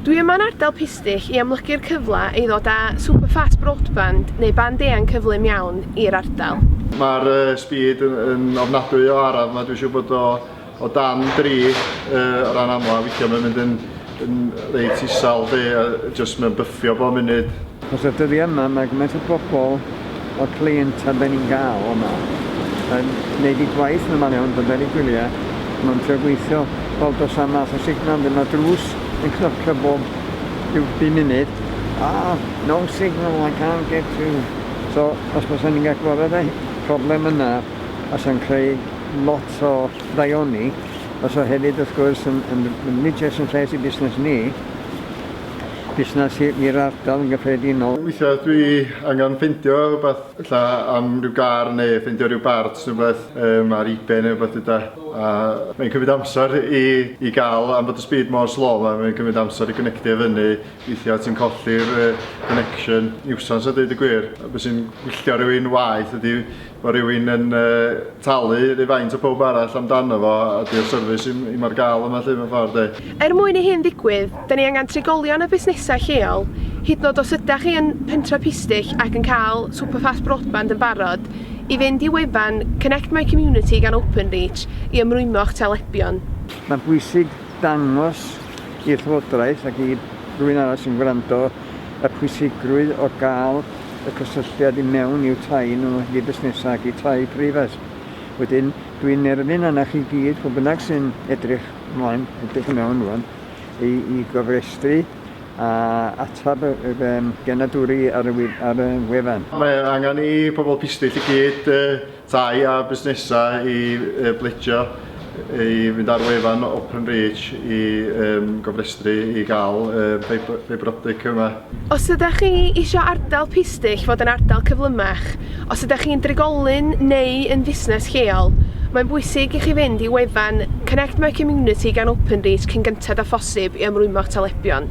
Dwi yma'n ardal Pistyll i amlygu'r cyfle i ddod â super fast broadband neu band eang cyflym iawn i'r ardal. Mae'r speed yn ofnadwy o araf ma, dwi'n siŵr bod o o dan 3 o ran amla, weithia mae'n mynd yn reit isel 'lly, jyst mae'n byffio bob munud. Achos y dyddiau yma mae gymaint o bobl o'r cleientau be ni'n gael yma yn neud eu gwaith yn amal iawn, bydde'r eu gwyliau, mae'n trio gweithio fel does am math o signal ddim, mae drws yn cnocio bob rhyw bu munud, ah, no signal, I can't get through. So os bysen ni'n gallu clywed y problem yna bysa'n creu lot o ddaioni, bysa hefyd wrth gwrs yn yn yn ryw jes yn lles i busnes ni. busnes i'r ardal yn gyffredinol. Weithiau dwi angen ffeindio rhywbeth ella am ryw gar neu ffeindio ryw barts neu rhywbeth um, ar ebay neu rhywbeth yda. A mae'n cymryd amser i, i gael, am bod y speed mor slow yma, mae'n cymryd amser i gynectio i fyny. Weithiau ti'n colli'r uh, connection. Niwsans a dweud y gwir. Beth sy'n gwylltio rhywun waith ydy Mae rhywun yn talu rhyw faint a pawb arall amdano fo a di'r service i'm i'm ar gael yma 'lly mewn ffordd de? Er mwyn i hyn ddigwydd, 'da ni angen trigolion a busnesau lleol, hyd yn oed os ydach chi yn pentref Pistyll ac yn cael Super Fast Broadband yn barod, i fynd i wefan Connect My Community gan Openreach i ymrwymo'ch talebion. Mae'n bwysig dangos i'r Llywodraeth ac i rywun arall sy'n gwrando y pwysigrwydd o gael y cysylltiad i mewn i'w tai nhw, i fusnesau ac i tai preifat. Wedyn, dwi'n nerfyn arna chi gyd, pwy bynnag sy'n edrych mlaen, edrych i mewn rwan, i, i gofrestru a atab y, y, y genadwri ar y, ar y wefan. Mae angen i pobl pistyll i gyd uh, Thai a busnesau i bledio i fynd ar wefan Openreach i gofrestru i gael ffeibr optig yma. Os ydych chi eisiau ardal pistyll fod yn ardal cyflymach, os ydych chi'n drigolyn neu yn fusnes lleol, mae'n bwysig i chi fynd i wefan Connect My Community gan Openreach cyn gynted â phosib i ymrwymo'ch talebion.